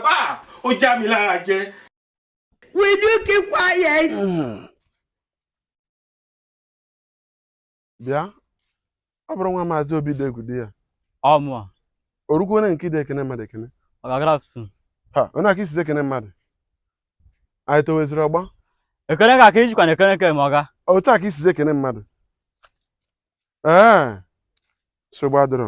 bàbá ó já mi lára jẹ. will you keep quiet. bịa ọ bụrụ nwa maazị obidiegwu dị ya ọmụa o rukwuo na nke ide ekene mmadụ ekene ọ ga-agara ọtụtụ ha onye aka isizi ekene mmadụ anyị toweziri ọgba ekene ka aka ijikwa na ekene ke ma ọga otu a ka isizi ekene mmadụ ee nsogbu adịrọ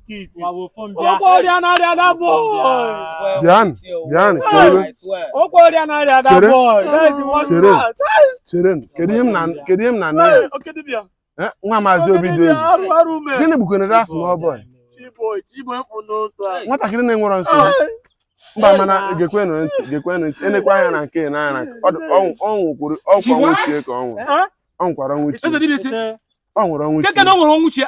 kedu ihe m na kedu ihe m na nne ya nwa maazị obidiegwu gịnị bụkwene that small boy nwatakịrị na-enwerọ nsogbu mba mana gekwenụ ntị gekwenụ ntị enekwa anya na nke nna ya na ọ nwụkwuru ọkwa nwụchie ka ọ nwụrụ ọ nwụkwara nwụchie ọ nwụrụ ọnwụchie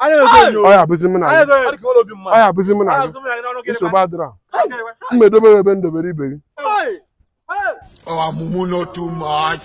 ọ ya abụzi m na gị ọ ya abụzi m na gị nsogbu adịrọ m edobe gị ebe m dobere ibe gị oh mumu not too much.